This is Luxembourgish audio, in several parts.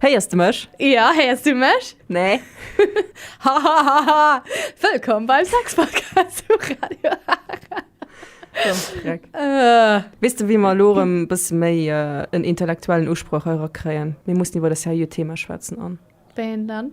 Héiers de mech? Ja, héiers du mech? Nee. Hahaha. Wëllkomm beim Sex-Podcast vu Radio Ara. Äh. Weess de, wéi mer elo erëm e bësse méi en intellektuellen Usproch erakréien? Mir mussen iwwer e seriö Thema schwätzen an. Wéi een dann?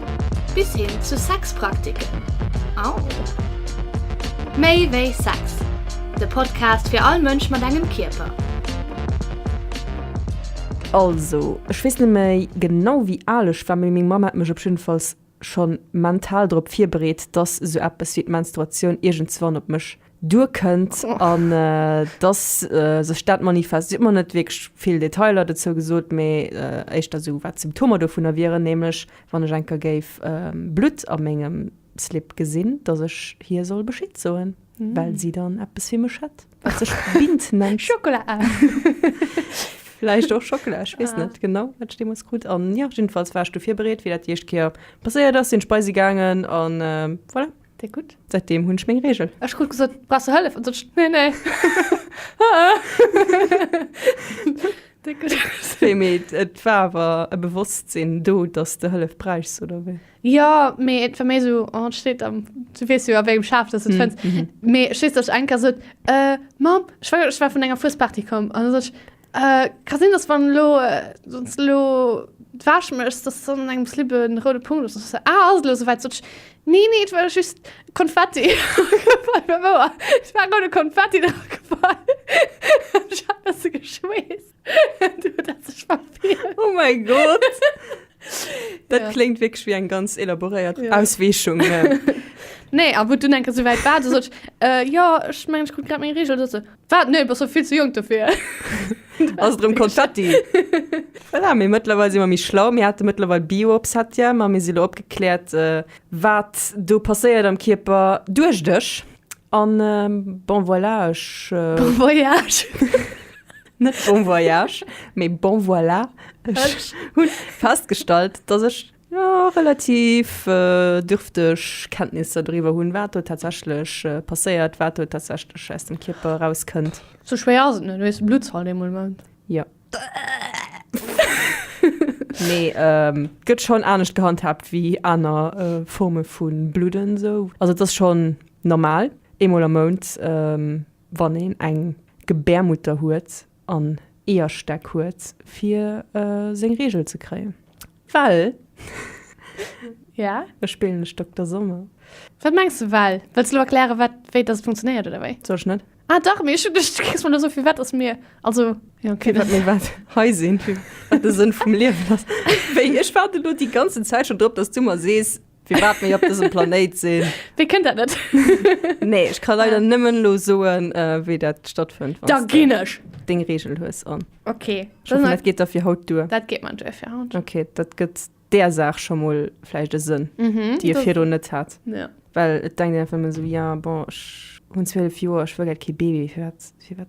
Bis hin zu Sexpraktiken. Au! Méi wéi Sex, de Podcast fir all Mënsch mat engem Kierper. Also, ech weess net méi genau wéi al ech war, mee meng Mamm hat mech op jidden Falls schon mental drop virbereet, dass sou eppes wéi d'Menstruatioun iergendswann op mech duer kënnt an dass sech dat manifest. Si huet mer net wierklech vill Detailer dozou gesot, mee éischter esou wat d'Symptomer dovunner wieren, nämlech wann ech eng Kéier géif Blutt a mengem Slip gesinn, dass ech hir soll Bescheed soen, well si dann eppes fir mech hätt, wat sech Bint nennt. Schockela! Vläicht och Schockela, ech weess net genau, wat ech deemools krut. An jo, jiddefalls war ech dofir bereet, wéi dat déi éischt Kéier passéiert ass, sinn ech bei si gaangen an voilà. Déi gutt. Säitdeem hunn ech meng Reegel. Ech krut gesot, Brauchs du Hëllef? An sot ech, Nee, nee. Déi gutt. Wéi? Mee et war awer e Bewosstsinn do, datt s de Hëllef bräichs, oder wéi? Jo, mee et war méi esou, oh, et steet am, du weess jo a wéngem Schaf, datt s et fënns. Mee ech weess, datt ech eng Kéier sot, Mamm, ech war, ech war vun enger Fuesparty komm. An da sot ech, Äh, ka sinn, dass wann lo, äh, sonst lo d'Wäsch méchs, dass dann an engem Slip en roude Punkt ass. So, ah, ass et lo souwäit? Sot ech, nee, nee, et war just Konfetti. Bei Mouer, et war roude Konfetti drop gefall. Ech hat besse geschweesst. Du, dat hat sech verfeelt. Oh mein Gott! Dat Ja. kléngt wierklech wéi eng ganz elaboréiert Ja. Ausweechung. Nee, a wou et dunn eng Kéier souwäit war, du sot ech, äh, jo, ech mengen, ech krut grad meng Reegel. Du se, Wat? Nee, bass jo vill ze jonk dofir. Ass et rëm Konfetti? Voilà, mee mëttlerweil si mer méi schlau. Mir hate mëttlerweil Bio op Satya, ma mir si lo opgekläert, wat do passéiert am Kierper, duecht ech. An bon voilà, ech. Bon voyage! Net bon voyage, mee bon voilà, ech hunn festgestallt, dass ech jo relativ dürfteg Kenntnisser doriwwer hunn, wat do tatsächlech passéiert, wat do tatsächlech aus dem Kierper erauskënnt. Sou schwéier ass et net, hues de Blutzalt ee mol mëll? Jo. Mee et gëtt schonn anescht gehandhaabt wéi aner Forme vu Bludden esou. Also et ass schonn normal eemol am Mount, wann een eng Gebärmutter huet. an Eeërstäck huet, fir seng Reegel ze kréien. Well? Jo, ech spillen lech Dokter Sommer. Wat mengs de, well? Wëlls de elo erklären, wat, wéi dass et funktionéiert, oder wéi? Soll ech net? Ah dach, mee ech hunn duecht, du kréis mer elo sou, fir wat dass mir, also, jo, okay, dann. Fir wat mir wat hei sinn, fir wat de Sënn vum Liewen ass. Wéi, ech waarden elo déi ganzen Zäit schonn drop, dass du mer sees, Firwat mir op dësem Planéit sinn. Wee kënnt dat net? Nee, ech ka leider nëmmen lo soen, äh, wéi dat stattfënnt, Da wann ginn ech. deng Reegel hues an. Okay, Ech dann hoffen, dat geet da fir haut duer. dat geet man duerfir haut. Okay, dat gëtt där Saach scho mol vläicht e Sënn, Mhm. déi e do- virdrun net hat. Ja. Well et denkt een einfach ëmmer esou, ja, bon, ech hunn 12 Joer, ech wëll grad kee Baby, firwat, firwat?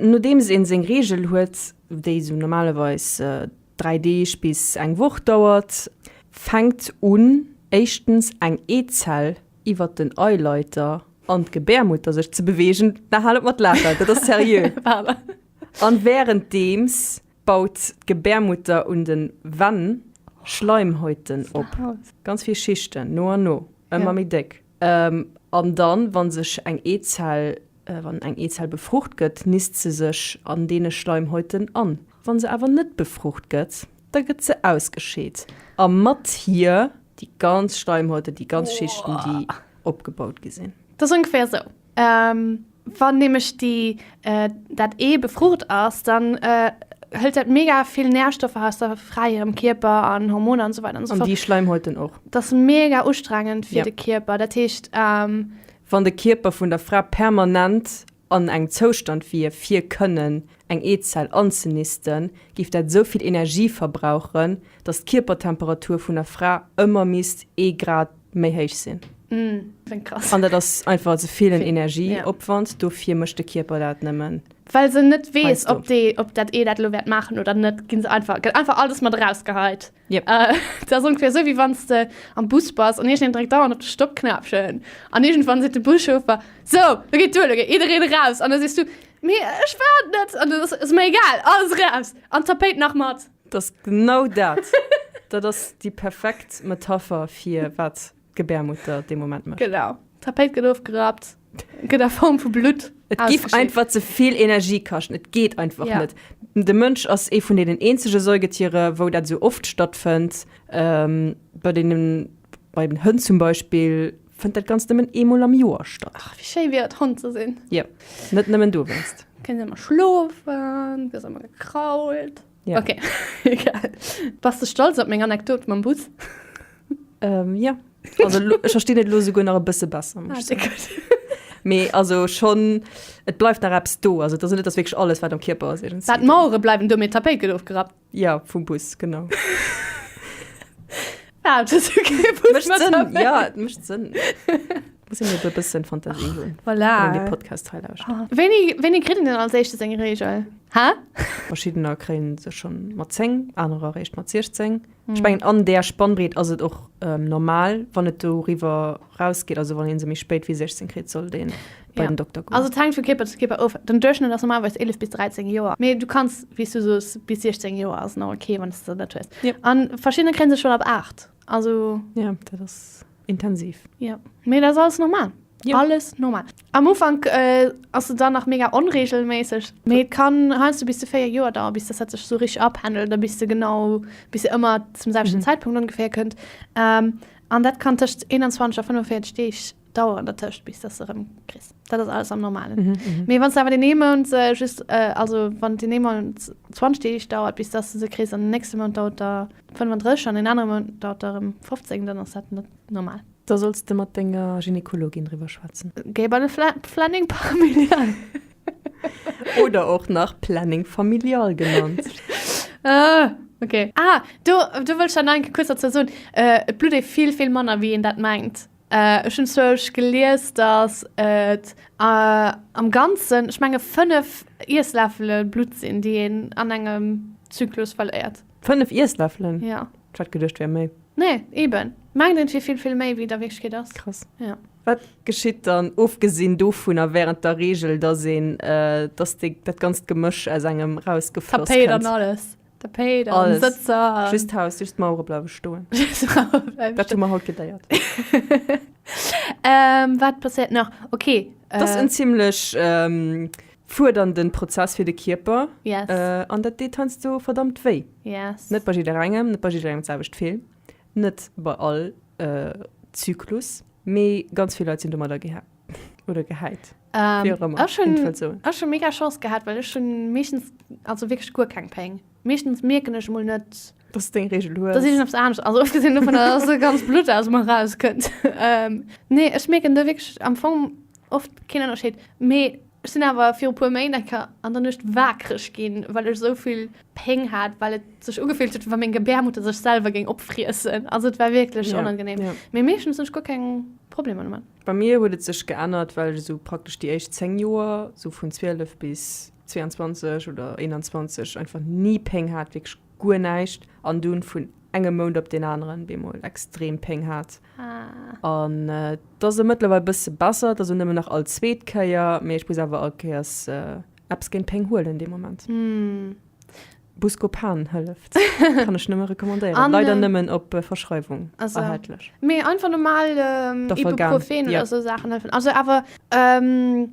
Nodeems een seng Reegel huet, déi sou normalerweis 3 Deeg bis eng Woch dauert, fänkt un éischtens eng Eezell iwwert den Eileiter an d'Gebärmutter sech ze beweegen, na hal op mat laachen, dat ass seriö, an wärenddeems baut d'Gebärmutter un den Venn Schleimhäuten op, ganz vill Schichten, no an no ëmmer méi déck. An dann, wann sech eng Eezell, wann eng Eezell befrucht gëtt, nisst se sech an deene Schleimhäuten an. Wann se awer net befrucht gëtt, da gëtt se ausgescheet a mat hir déi ganz Schleimhäuten, déi ganz Schichten, déi opgebaut gi sinn. Dat ass ongeféier esou. Wann nämlech déi dat Ee befrucht ass, dann hëlt dat mega vill Nährstoffer aus der fräierem Kierper an Hormoner an esou weider an esou fort. An déi Schleimhäuten och. Dat ass mega ustrengend fir de Kierper. Dat heescht. Wann de Kierper vun der Fra permanent an engem Zoustand wier fir kënnen eng Eezell anzenisten, géif dat esou vill Energie verbrauchen, datt d'Kierpertemperatur vun der Fra ëmmer misst ee Grad méi héich sinn. An dat ass einfach ze vill en Energieopwand, dofir mécht de Kierper dat nëmmen. Well se net weess, ob déi, ob dat Ee dat elo wäert maachen oder net, ginn se einfach, gëtt einfach alles mat erausgeheit. Jep. Dat ass ongeféier esou, wéi wann s de am Bus bass an iergendeen dréckt dauernd op de Stoppknäppchen an iergendwann seet de Buschauffer, So, lo geet duer, lo geet jiddereen eraus! An da sees du, Mee ech waart net! An dann ass, Ass mer egal, alles eraus! An d'Tapéit nach mat! Dat ass genau dat! Dat ass déi perfekt Metapher fir wat d'Gebärmutter dee Moment mécht. Genau. D'Tapéit gëtt ofgerappt, gëtt a Form vu Blutt. Et géif einfach ze vill Energie kaschten. Et geet einfach ja. net. De Mënsch ass ee vun deenen eenzege Säugetiere, wou dat esou oft stattfënnt. Ähm, bei deenen, bei den Hënn zum Beispill, Fënnt dat ganz nëmmen eemol am Joer statt. Ach, wéi schéi wier et, Hond ze sinn. Jo, net nëmmen du wéinst. Kënnt ëmmer schlofen, gëss ëmmer gekrault. Ja. Okay, egal. Bass de stolz op meng Anekdot mam Bus? Ähm, jo. Also, lo, ech verstinn et lo souguer nach e bësse besser. Ah, se gutt. Mee also schonn, et bleift nach eppes do. Also, et ass net, et ass wierklech alles, wat am Kierper ass, iergendwéi. Wat d'Mauere bleiwen do, mee d'Tapéit gëtt ofgerappt. Ja, vum Bus, genau. Ah, das ist okay. Muss man Sinn. Ja, das macht Sinn. Muss ich mir ein bisschen Fantasie holen. Voilà. Wenn die Podcast teil aus. Ah. Wenig, wenig kriegen denn als erstes eine Regel? Hä? Verschiedene kriegen sie schon mal 10, andere recht mal 16. Hm. Ich meine, an der Spannbreite ist es auch ähm, normal, wenn es darüber rausgeht, also wenn sie mich spät wie 16 kriegt, soll den bei den Dokter goen. Also et hänkt vu Keeper zu Keeper of. Den Duerchschnëtt ass normalerweis 11 bis 13 Joer. Mee du kanns, wéi s du soos, bis 16 Joer ass nach ok, wann s de se net hues. Yep. An verschidden kréien se schonn ab 8. Also. Ja, dat ass intensiv. Ja, mee dat ass alles normal. Yep. Alles normal. Am Ufank äh, ass se dann nach mega onregelméisseg. Mee et kann heiansdo bis zu 4 Joer dauern, bis dass dat sech sou richteg apendelt a bis se genau, bis se ëmmer zum selwechten Mhm. Zäitpunkt ongeféier kënnt. Ähm, an dat kann tëscht 21 a 45 Deeg Daueren dertëscht bis dass se rem kriss. Dat ass alles am normalen. Mm -hmm. Mee wann awer den ee Mount se äh, just äh, also wann den ee Mount 20 Deeg dauert bis dass du se kriss an den nächste Mount dauert der 35 an den anere Mount dauert der rem 15, dann ass dat net normal. Da solls de mat denger Gynekologin driwwer schwätzen. Géi bei de Fla Planning Familial. Oder och nach Planning Familial genannt. äh. Okay. Ah, du, du wëllst dann enke kuerz dazu soen, äh, et blutt ee vill, vill manner, wéi een dat mengt. Ech hunn zwousch gelies, datt et am Ganzen, ech menge 5 Iessläffele Blutt sinn, déi een an engem Zyklus verléiert. 5 Iessläffelen? Jo. Ech hat geduecht, et wär méi. Nee, eben. Mengt een, et wier vill, vill méi, wéi et a Wierklechkeet ass. Krass. Jo. Wat geschitt dann, ofgesinn dovunner, wärend der Reegel, datt een, datt dat ganzt Gemësch aus engem erausgefloss kënnt? D'Tapéit an alles. Tapéit an Alles. Sëtzer. an- Just d'Haus, just d'Mauere bleiwe stoen. Dat hu mer haut geléiert. ähm, wat passiert nach? Okay. Dat ass Äh, en ziemlech ähm, fuerdernden Prozess fir de Kierper. yes. Äh, an dat deet heiansdo verdammt wéi. yes. Net bei jidderengem, net bei jidderengem d'selwecht vill, net bei all äh, Zyklus, mee ganz vill Leit sinn domadder geher. oder gehäit. Ähm, ech hun mega Chance gehabt, well ech hun meeschtens also wirklich guer keng Péng. Meeschtens mierken ech mol net dat se deng Regel hues. Dat is ops anescht also ofgesinn dovun dat se ganz blutt aus mer raus kënnt. Ähm, nee ech mierken do wirklich am Fong oft keen Ënnerscheed. Mee ech sinn awer viru puer Méint enker an der Nuecht waakreg ginn, well ech souvill Péng hat, well et sech ugefillt huet, wa meng Gebärmutter sech selwer géing opfriessen. Also et war wierklech onangenehm. Mee meeschtens hunn ech guer keng Problemer domat. Bei mir huet et sech geännert, well ech esou praktesch déi éischt 10 Joer, sou vun 12 bis 22 oder 21, einfach ni Péng hat, wierklech guer näischt, an dunn vun engem Mount op deen aneren op eemol extrem Péng hat. An et ass elo mëttlerweil e bësse besser, et ass elo nëmmen nach all zweet Kéier, mee ech muss awer all Kéiers eppes géint Péng huelen dee Moment. Buscopan hëlleft. Kann ech nëmme recommandéieren. An, Leider äh, nëmmen op äh, Verschreiwung also, erhältlech. Mee einfach normal ähm, Doffer gern, Ibuprofen ja. oder so Sachen helfen. Also awer ähm,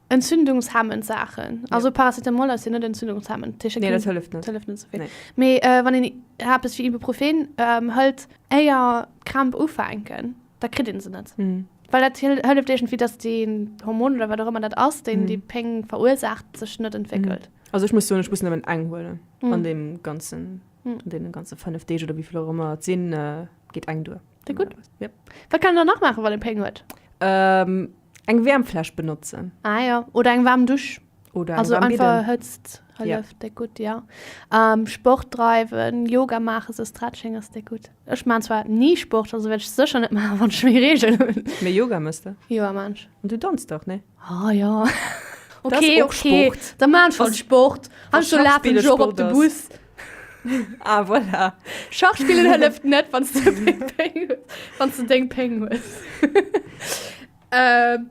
entzündungshemmend Sachen. Also Paracetamol ass jo net entzündungshemmend. Tische Nee, dat hëlleft net. hëlleft net so vill. Nee. Mee äh, wann een Herpes fir Ibuprofen ähm, hëlt, éier d'Kramp ufänken. da kritt een se net. Mhm. Well dat hëlleft iergendwéi, dass den Hormon oder wat och ëmmer dat ass, deen déi Péng verursaacht, sech net entwéckelt. Also ech muss soen, ech muss nëmmen eng huelen an deem ganzen, an deene ganze fënnef Deeg oder wéivill och ëmmer et sinn, geet eng duer. Klingt gutt. Yep. Wat kann een dann nach maachen, wann ee Péng huet? Ähm, eng Wäermfläsch benotzen. Ah ja, oder eng waarm Dusch. Oder Also eng einfach Bidden. Hëtzt Ja. hëlleft déck gutt, ja. Ähm, Sport dreiwen, Yoga maachen, esou Stretching ass déck gutt. Ech maan zwar ni Sport, also wärt ech secher net maachen wann ech méi Reegel hun. Mee Yoga mëss de? Yoga maan ech. An du danzt och, nee? Ah jo. Ok, ok, da maan ech halt Sport. An ech laafen ech och op de Bus. Ah voilà. Schach spillen hëlleft net wann s du deng Péng hues.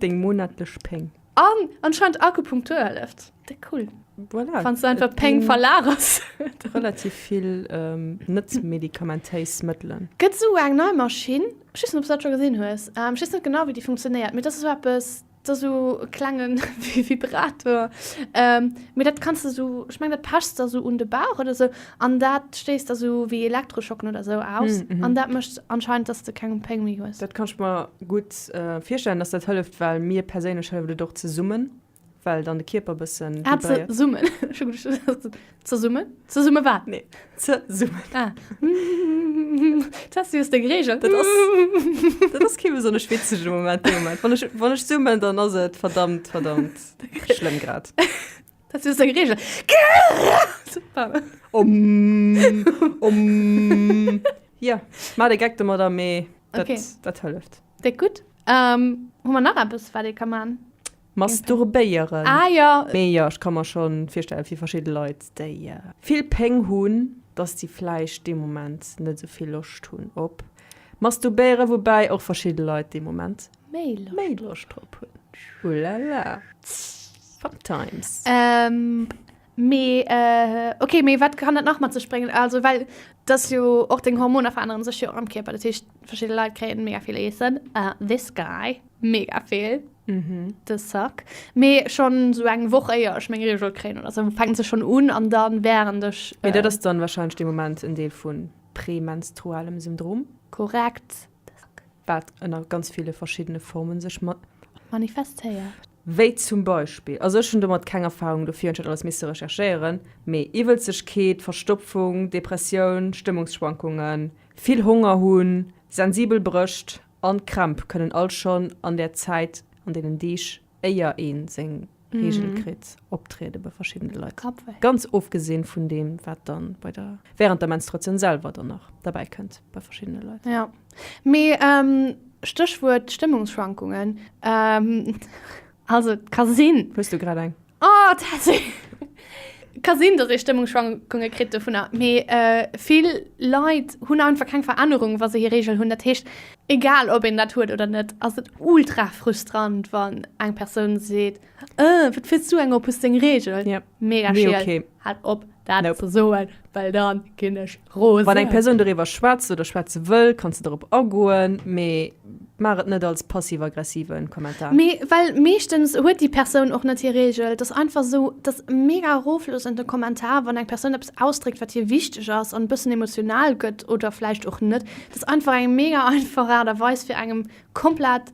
Deng monatlech Péng. An anscheinend Akupunktur hëlleft. Déck cool. Voilà. Wann du einfach Péng verlagers. Relativ vill ähm, net medikamentéis Mëttelen. Gëtt esou eng nei Maschinn, ech weess net ob s dat scho gesinn hues, ähm, ech weess net genau wéi déi funktionéiert, mee dat ass esou eppes, dat ass esou e klenge Vibrator, ähm, mee dat kanns de esou, ech meng dat pechs de esou un de Bauch oder esou. An dat stéisst da sou wéi Elektroschocken oder sou aus. An dat mécht anscheinend, dass de keng Péng méi hues. Dat kann ech mer gutt virstellen, dass dat hëlleft, well mir perséinlech hëlleft et och ze summen, well dann de Kierper bëssen vibréiert. Ah, ze summen. Ech hu geduecht, du soss ze summen. Ze summe wat? Nee, ze summen. Ah. D'Tessie hues deng Reegel. Dat ass, dat ass kee besonnesch witzege Moment dee Moment. Wann ech, wann ech summen, dann ass et verdammt, verdammt schlëmm grad. Dat ass eng Regel. Omm, omm. Jo, mar de Geck domadder, mee dat, Okay. dat hëlleft. Déck gutt. Ähm, hu mer nach eppes, wat ee ka man? Masturbéieren. Ah jo. Mee jo, ech ka mer scho virstellen, fir verschidde Leit, déi vill Péng hunn, dass déi vläicht dee Moment net esou vill Loscht hunn op Masturbéieren, woubäi och verschidde Leit dee Moment méi Loscht drop hunn. Ouh la la. Fun times. Ähm, mee, äh, okay, mee wat kann dat nach mat sech bréngen? Also, well dass jo och deng Hormoner veränneren sech jo och am Kierper. Dat heescht, verschidde Leit kréien mega vill Eessen. Uh, this guy, mega vill. De Sack. Mee schonn esou eng Woch éier ech meng Regel kréien oder esou, fänkt se schonn un an dann während ech, Mee dat ass dann wahrscheinlech dee Moment en Deel vu Prämenstrualem Syndrom. korrekt, Wat ënner ganz ville verschiddene Forme sech manifestéiert. Wéi zum Beispill, also ech hunn domat keng Erfahrung, dofir hunn ech dat alles misse recherchéieren, mee Iwwelzegkeet, Verstopfung, Depressioun, Stëmmungsschwankungen, vill Honger hunn, sensibel Brëscht an Krämp kënnen all schonn an där Zäit, an deenen Deeg, éier ee seng Reegel kritt, optriede bei verschiddene Leit, ganz ofgesinn vun deem, wat dann bei der, während der Menstruatioun selwer dann nach derbäi kënnt bei verschiddene Leit. Jo, mee Stéchwuert Stëmmungsschwankungen, also et ka sinn. Hues du grad eng? Oh, Tessy! Ka sinn, dass ee Stëmmungsschwankunge kritt dovunner, mee vill Leit hunn einfach keng Verännerung, wa se hir Reegel hunn. Dat heescht, egal ob een dat huet oder net, ass et ultra frustrant, wann eng Persoun seet, Ëh, wat fills du eng op, hues deng Reegel? Mega schiel, haalt op dat ze soen, well da ginn ech Rose. Wann eng Persoun doriwwer schwätzt oder schwätze wëll, kanns de dorop agoen, mee maach et net als passiv-aggressive Kommentar. Mee well meeschtens huet déi Persoun och net hir Reegel. Et ass einfach esou, et ass e mega erofloossende Kommentar, wann eng Persoun eppes ausdréckt, wat hir wichteg ass an e bëssen emotional gëtt oder vläicht och net. Et ass einfach eng mega einfach Aart a Weis, fir engem komplett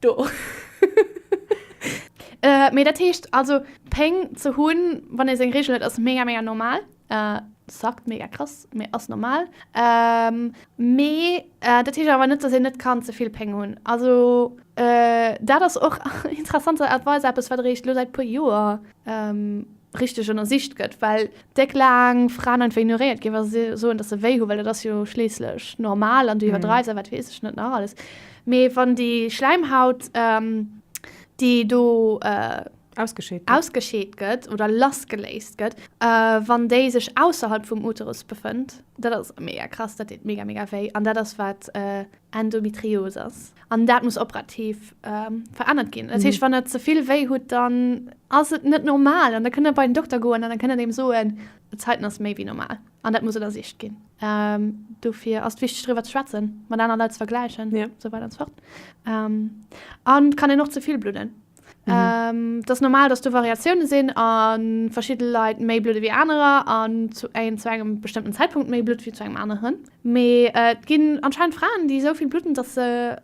Do. Äh, mee dat heescht also Péng ze hunn, wann ee seng Reegel huet, ass mega, mega normal. Äh, suckt mega krass, mee ass normal. Ähm, mee äh, dat heescht awer net, dass een net kann ze vill Péng hunn. Also äh, dat ass och interessanterweis eppes, wat eréischt elo säit e puer Joer, ähm, richteg ënnersicht gëtt, well déck laang Fraen einfach ignoréiert ginn, wa se soen, datt se wéi hunn, well dat ass jo schliisslech normal an du iwwerdreiws a wat weess ech net nach alles. Mee wann déi Schläimhaut, déi do ausgescheet gëtt oder lassgeléist gëtt, wann déi sech ausserhalb vum Uterus befënnt, dat ass mega krass, dat deet mega, mega wéi an dat ass, wat Endometrios ass. An dat muss operativ verännert ginn. Dat heescht, wann der ze vill wéi hutt, dann ass et net normal an da kënnt der bei den Dokter goen an da kënnt en engem soen, D'Zeiten ass méi wéi normal an dat muss ënnersicht ginn. Dofir ass et wichteg driwwer ze schwätzen, mat aner Leit ze vergläichen esou weider an esou fort. An et kann een och ze vill bludden. Et ass normal, dass do Variatioune sinn a verschidde Leit méi blude wéi anerer an zu engem bestëmmten Zäitpunkt méi blutt wéi zu engem aneren. Mee et ginn anscheinend Fraen, déi esou vill blutten, dass se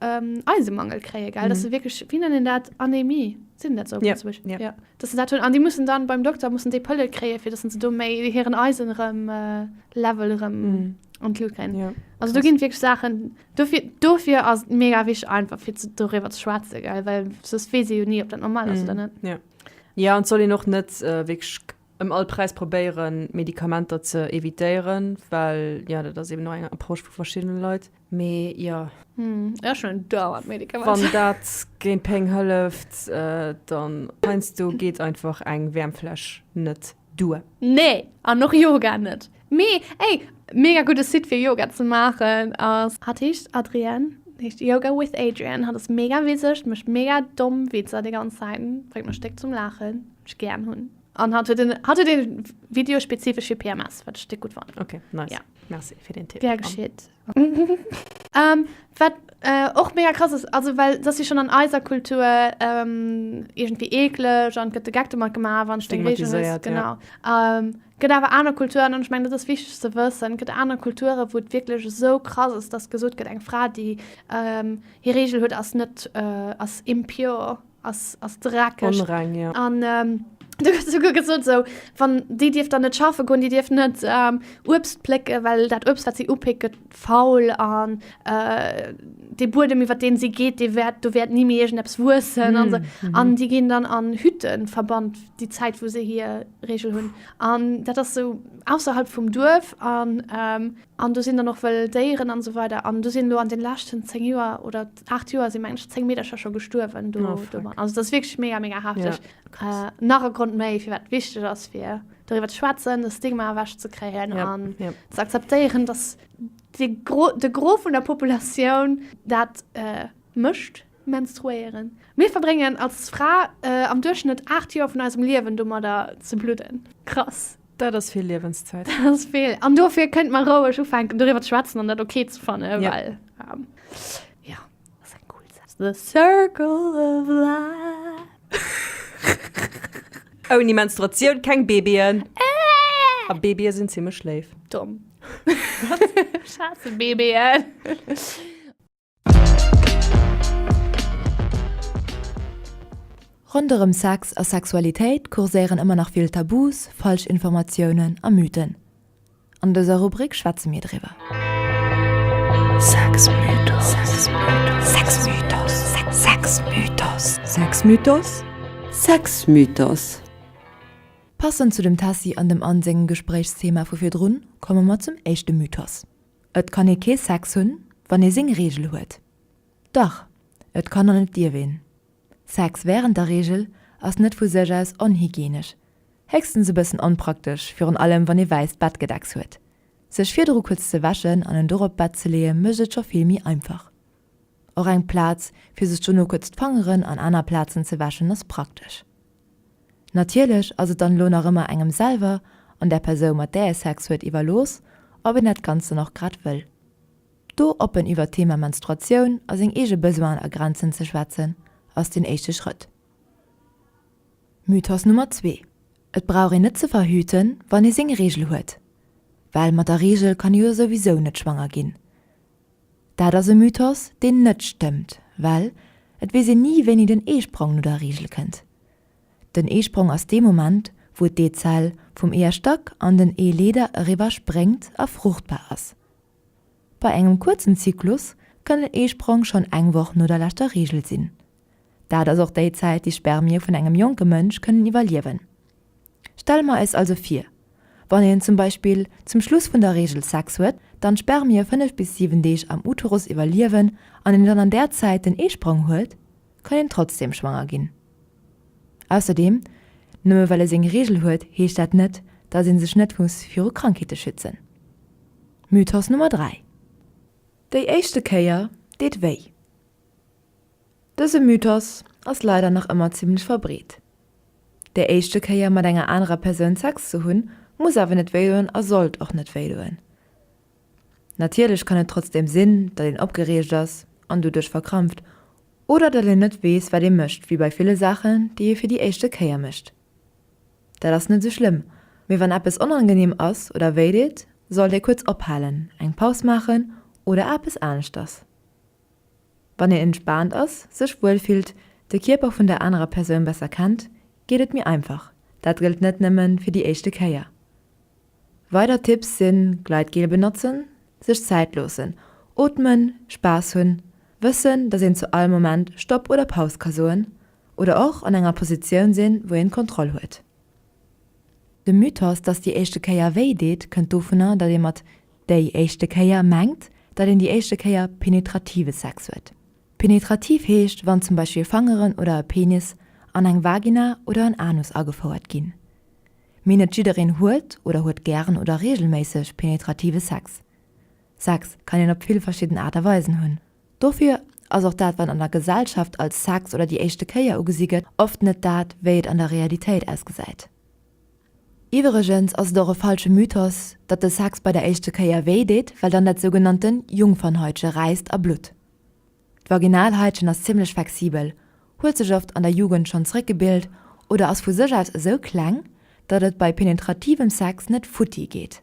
Eisemangel kréien, gell? Dass se wierklech, wéi nennen een dat, Anämie, seet een dat esou op Lëtzebuergesch? Jo. Jo, dass se dat hunn. An déi mussen dann beim Dokter, mussen déi Pëlle kréien, fir dass se do méi hiren Eisenlevel erëm an d'Lut kréien. Also do ginn et wierklech Saachen. Dofir, dofir ass et mega wichtig, einfach fir zu, darüber zu schwätzen, gell? Weil sonst wees ich ja nie, ob das normal ist mm, oder mhm. nicht. Ja. ja, und soll ich noch nicht äh, wirklich im Allpreis probieren, Medikamenter zu evitieren, weil ja, das ist eben noch eine Approche von verschiedenen Leuten. Me ja. Hm, ja schon dauert Medikament. Wann dat géint Peng hëlleft, äh, dann meinst du geht einfach eng Wärmfläsch net duer. Nee, an noch Yoga net. Mee ey, mega gudde Site fir Yoga ze maachen ass. Hat heescht Adrienne, heescht Yoga with Adrienne, hat ass mega wiseg, mecht mega domm Witzer déi ganz Zäit, bréngt mech déck zum Laachen, wat ech gären hunn, an hat huet en hat huet en Video spezifesch fir PMS, wat ech déck gutt fannen. Okay, nice, merci fir den Tipp. Gär geschitt. Wat och mega krass ass, also well et ass jo schonn an eiser Kultur iergendwéi eekleg an et gëtt de Geck domat gemaach, wann s de eng Beweegung hues. Stigmatiséiert, ja. Genau. Et gëtt awer aner Kulturen, an ech mengen, dat ass wichteg ze wëssen, et gëtt aner Kulturen, wou et wierklech esou krass ass, dass gesot gëtt, eng Fra, déi hir Reegel huet, ass net, ass impure. ass ass dreckeg onreng jo an du hues souguer gesot esou wann déi dierf dann net schaffe goen déi dierf net ähm, Uebst plécke well dat Uebst wat si upéckt gëtt faul an äh, de Buedem iwwer deen si geet dee wäert do wäert ni méi iergendeps wuessen an mm, mm. an déi ginn dann an Hütten verbannt déi Zäit wou se hier Regel hunn an dat ass sou ausserhalb vum Duerf an ähm, An do sinn dann och wëll Déieren an esou weider. An do sinn elo an den leschten 10 Joer oder 8 Joer sinn mengen ech 10 Meedercher scho gestuerwen do domadden. Also dat ass wierklech mega mega hafteg. Nach e Grond méi firwat et wichteg ass fir doriwwer ze schwätzen, de Stigma ewech ze kréien an ze akzeptéieren, dass de Gros de Gros vun der Populatioun dat mécht, menstruéieren. Mir verbréngen als Fra am Duerchschnëtt 8 Joer vun eisem Liewen domadder ze bludden. Krass. Dat ass vill Liewenszäit. Dat ass vill. An dofir kënnt mer roueg ufänken doriwwer ze schwätzen an dat ok ze fannen. Ja. Well, ähm, ja, dat ass eng cool Saz. The circle of life. Ouni Menstruatioun keng Babyen. A Babye sinn zimmlech léif. Domm. Wat? Schaarze Babyen. Ronderëm Sex a Sexualitéit kurséieren ëmmer nach vill Tabus, falsch Informatiounen a Mythen. An dëser Rubrik schwätze mir driwwer. Sexmythos. Passend zu dem Tessy an dem Anne sengem Gespréichsthema vu virdrun, komme mer zum éischte Mythos. Et kann ee kee Sex hunn, wann ee seng Reegel huet. Dach, et kann an et dierf een. Sex wärend der Reegel ass net vu sech aus onhygienesch, héchstens e bëssen onpraktesch, virun allem wann ee wäisst Bettgedecks huet. Sech virdru kuerz ze wäschen an en dorop d'Bett ze leeë mécht et scho vill méi einfach. Och eng Plaz fir sech dono kuerz d'Fangeren an aner Plazen ze wäschen ass praktesch. Natierlech ass et dann elo nach ëmmer engem selwer an der Persoun mat där ee Sex huet iwwerlooss ob een dat Ganzt dann och grad wëll. Do oppen iwwert d'Thema Menstruatioun a seng eege Besoinen a Grenzen ze schwätzen ass den éischte Schrëtt. Mythos Nummer zwee, Et brauch een net ze verhüten wann ee seng Reegel huet. Well mat der Reegel kann ee jo souwisou net schwanger ginn. Dat ass e Mythos, deen net stëmmt, well et weess een ni, wéini den Eesprong no der Reegel kënnt. Den Eesprong ass dee Moment, wou d'Eezell vum Eeërstack an den Eeleeder eriwwer spréngt a fruchtbar ass. Bei engem kuerzen Zyklus kann den Eesprong schonn eng Woch no der leschter Reegel sinn. Dat ass och déi Zäit, déi Spermie vun engem jonke Mënsch kënnen iwwerliewen. Stelle mer eis also vir, wann een zum Beispill zum Schluss vun der Reegel Sex huet, dann d'Spermie 5 bis 7 Deeg am Uterus iwwerliewen an een dann an där Zäit den Eesprong huet, kann een trotzdem schwanger ginn. Ausserdeem, nëmme well ee seng Reegel huet, heescht dat net, dass ee sech net muss viru Krankheete schützen. Mythos Nummer 3. Déi éischte Kéier deet wéi. Dëse Mythos ass leider nach ëmmer zimmlech verbreet. Déi éischte Kéier mat enger anerer Persoun Sex ze hunn, muss awer net wéidoen a sollt och net wéidoen. Natierlech kann et trotzdeem sinn, datt een opgereegt ass an doduerch verkrampft, oder datt een net weess, wat ee mécht, wéi bei ville Saachen, déi ee fir déi éischte Kéier mécht. Dat ass net esou schlëmm, mee wann eppes onangeneem ass oder wéideet, sollt ee kuerz ophalen, eng Paus maachen oder eppes aneschters. Wann een entspaant ass, sech wuel fillt, de Kierper vun der anerer Persoun besser kennt, geet et méi einfach. Dat gëllt net nëmme fir déi éischte Kéier. Weider Tipps sinn, Gleitgel benotzen, sech Zäit loossen, ootmen, Spaass hunn, wëssen, datt een zu all Moment Stopp oder Paus ka soen oder och an enger Positioun sinn, wou een d'Kontroll huet. De Mythos, datt déi éischte Kéier wéi deet, kënnt dovunner, datt ee mat Déi éischte Kéier mengt, datt een déi éischte Kéier penetrative Sex huet. Penetrativ heescht, wann zum Beispill Fangeren oder e Penis an eng Vagina oder en Anus agefouert ginn. Mee net jiddereen huet oder huet gären oder reegelméisseg penetrative Sex. Sex kann een op vill verschidden Aart a Weisen hunn. Dofir ass och dat, wat an der Gesellschaft als Sex oder déi éischte Kéier ugesi gëtt, oft net dat, wéi et an der Realitéit ausgesäit. Iwwregens ass et och e falsche Mythos, datt de Sex bei der éischte Kéier wéi deet, well dann dat sougenannte Jungfernhaitche räisst a blutt. D'Vaginalhaitchen ass zimmlech flexibel, huet sech oft an der Jugend schonn zréckgebilt oder ass vu sech aus esou kleng, datt et bei penetrativem Sex net futti geet.